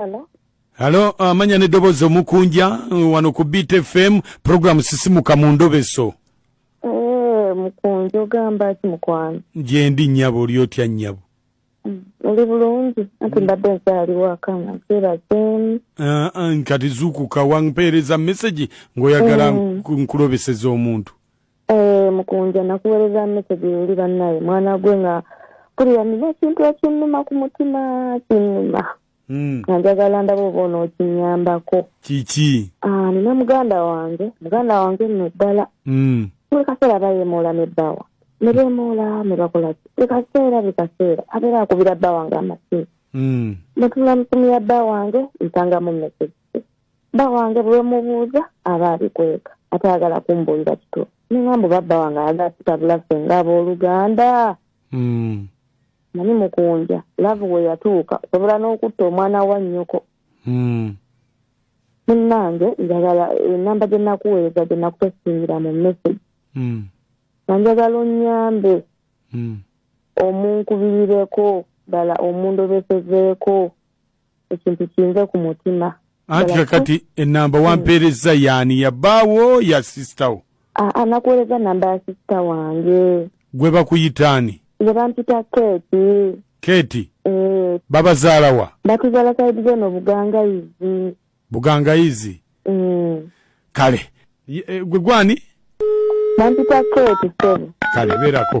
Hello? Halo, uh, ah, manya ne dobozo mukunja uh, wano ku Beat FM program sisimuka mu ndobeso. Eh, mukunja ogamba ki mukwano? Je ndi nyabo oli otya nyabo? Mm, oli bulungi ati mm. mbadde nkyali waka nga nkeera zemu ah, ah, nkati zuukuka wampeereza message ng'oyagala mm. nkulobeseza omuntu Eh, mukunja nakuwereza message luli bannaye mwana gwe nga kulira nina ekintu ekinnuma ku mutima kinnuma hmm. nga njagala ndaba oba onookinyambako kiki ah, nina muganda wange muganda wange nno ddala hmm. buli kaseera bayemuula ne bbawa ne bemuula ne bakolaki buli kaseera buli kaseera abeera akubira bba wange amasimu hmm. netula musimu ya bba wange nsangamu message bba wange bwemubuuza aba abikweka atayagala kumbuulira kituufu nengamba babba wange ayagala kitabula ffe nga abooluganda hmm. nani mukunja laavu we yatuuka osobola n'okutta omwana wa nnyoko hmm. munnange njagala enamba gye nakuweereza gye nakutesingira mu message hmm. nga njagala onnyambe omunkubirireko ddala omundobesezeeko ekintu kinze ku mutima anti kakati enamba wampeerezza yaani ya bbaawo ya sisitawo anakuweereza namba ya sisita wange gwe bakuyitaani gwe bampita keeti keeti eh. babazaala wa batuzaala saidi zeno bugangayizi bugangayizi eh. kale eh, gwe gwani bampita keeti sebo kale beerako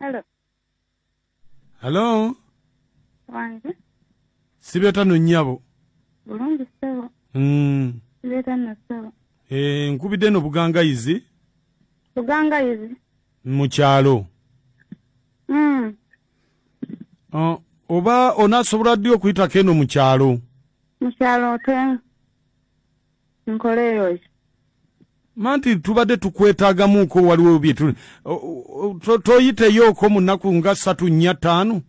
Hello. Hello. Wange. Sibeta no nyabo. Bulungi sebo. Mm. Sibeta no sebo. Eh, nkubide no buganga izi. Buganga izi. Muchalo. Mm. Oh, oba onasobola ddi okuyitako eno mu kyalo mu kyalo otwenga nkoleeyoki manti tubadde tukwetagamuuko waliwo byetu toyiteyooko mu nnaku nga ssatu nnya ttaano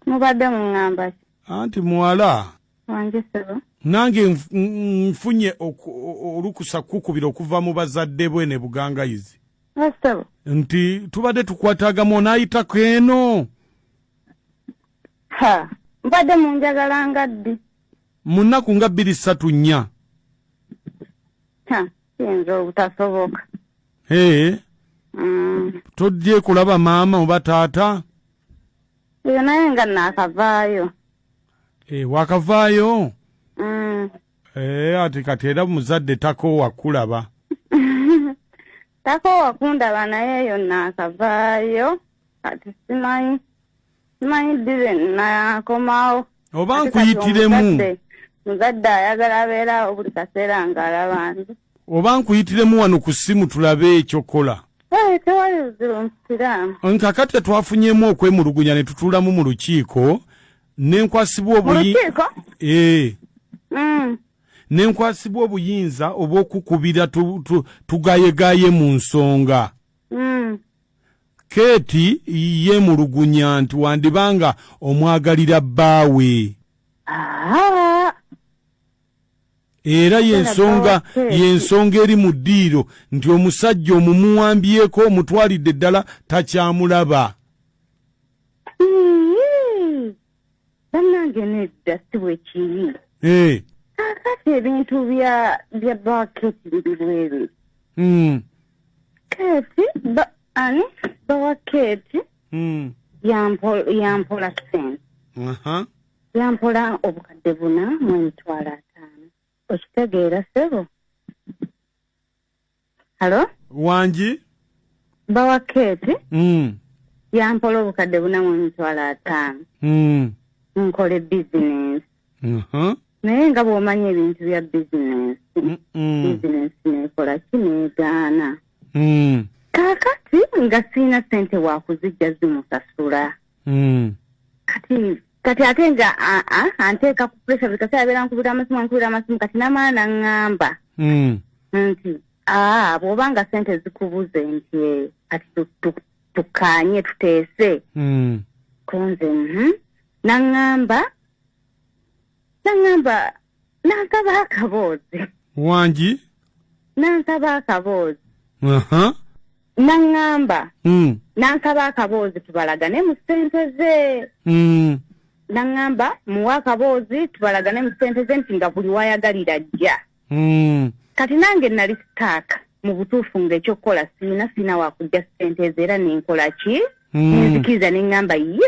mubadde muŋŋamba ki anti muwala wange sebo nange nfunye olukusa kukubira okuva mu bazadde bwe ne bugangayizi sebo nti tubadde tukwatagamu onaayitako eno ha mbadde munjagalanga ddi mu nnaku nga bbiri ssatu nnya kiyinza obutasoboka ee mm. toddye kulaba maama oba taata eyo naye nga naakavaayo ee eh, wakavaayo mm. ee eh, ati kati era muzadde takoowa kulaba takoowa kundaba naye eyo naakavaayo kati simanyi simanyi ddi lwe nakomawo oba nkuyitiremu muzadde ayagala abeerawo buli kaseera ng'alaba nze oba nkuyitiremu wano ku ssimu tulabe ekyokola eh, tewali buzibu musiraamu nkakati twafunyemu okwemulugunya ne tutuulamu mu lukiiko nenkwasibwa obuyi eh. mm. nenkwasibwa obuyinza obw'okukubira tugayegaye mu nsonga mm. Keeti yeemulugunya nti wandiba nga omwagalira bbaawe era yensonga yensonga eri mu ddiiro nti omusajja omumuwambyeko omutwalidde ddala takyamulaba bannange nedda si bwe kiri eh. kakati ebintu bya bya baketi biri bwere hmm. keti ani bawa keti hmm. yampola sente yampola obukadde buna mu emitwalo ataano okitegeera sebo Halo? Wangi? Bawa Kate. Mm. Yampola obukadde buna mu mitwalo ataano. Mm. Nkole business. Uh -huh. Naye nga bw'omanya ebintu bya business. Mm -mm. Business nekola kineegaana. Mm. Kakati nga sirina sente wakuzijja zimusasula. Mm. Kati kati ate nga anteeka ku pressure buli kaseera abeera nkubira amasimu ankubira amasimu kati namaana ngamba hmm. nti aa bw'oba nga sente zikubuze nti eh, kati tukanye tuteese hmm. kunze mhm. nangamba nangamba nansaba akaboozi wangi nansaba akaboozi aha naŋŋamba mm. nansaba akaboozi tubalagane mu ssente ze mm. naŋŋamba muwa akaboozi tubalagane mu ssente ze nti nga buli wayagalira jja mm. kati nange nali sitaaka mu butuufu ng'ekyokukola siina siina wakujja ssente ezo era nenkola ki mm. nenzikiriza neŋŋamba ye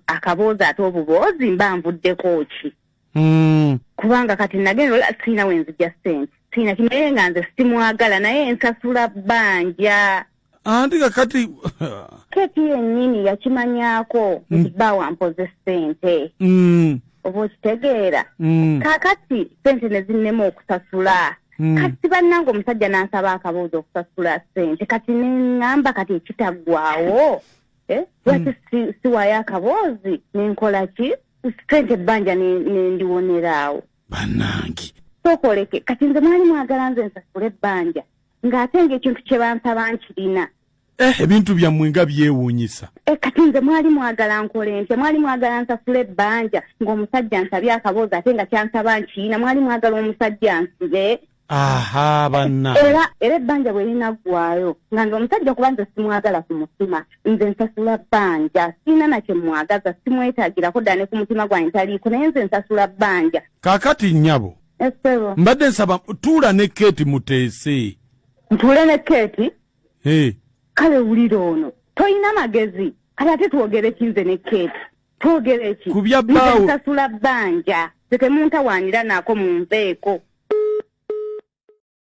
akaboozi ate obuboozi mba nvuddeko ki mm. kubanga kati nagenda ola sirina wenzija sente sirina kinaye nga nze simwagala naye nsasula banja anti kakati keti yenyini yakimanyako mm. nti bawa mpoze sente mm. oba okitegeera mm. kakati sente nezinema okusasula Mm. kati bannanga omusajja n'ansaba akabuuza okusasula sente kati neŋŋamba kati ekitaggwawo eh, lwaki mm. si, siwayo akaboozi nenkola ki sente ebbanja nendiwoneraawo banange sokoleke kati nze mwali mwagala nze nsasula ebbanja ng'ate ngaekintu kye bansaba nkirina eh, ebintu byammwe nga byewuunyisa eh, kati nze mwali mwagala nkole ntya mwali mwagala nsasula ebbanja ng'omusajja nsabye akaboozi ate nga kyansaba nkirina mwali mwagala omusajja nsibe aha banna era era ebbanja bwe linaggwaayo nga nze omusajja kuba nze simwagala ku mutima nze nsasula bbanja sirina nakye mwagaza simwetagirako ddala ne ku mutima gwange ntaliiko naye nze nsasula bbanja kakati nnyabo esebo mbadde nsaba tuula ne keeti muteese ntuule ne keeti kale wulira ono tolina magezi kati ate twogere kinze ne keeti twogera eki kubya baawo nsasula bbanja tetemuntawaanira naako munveeko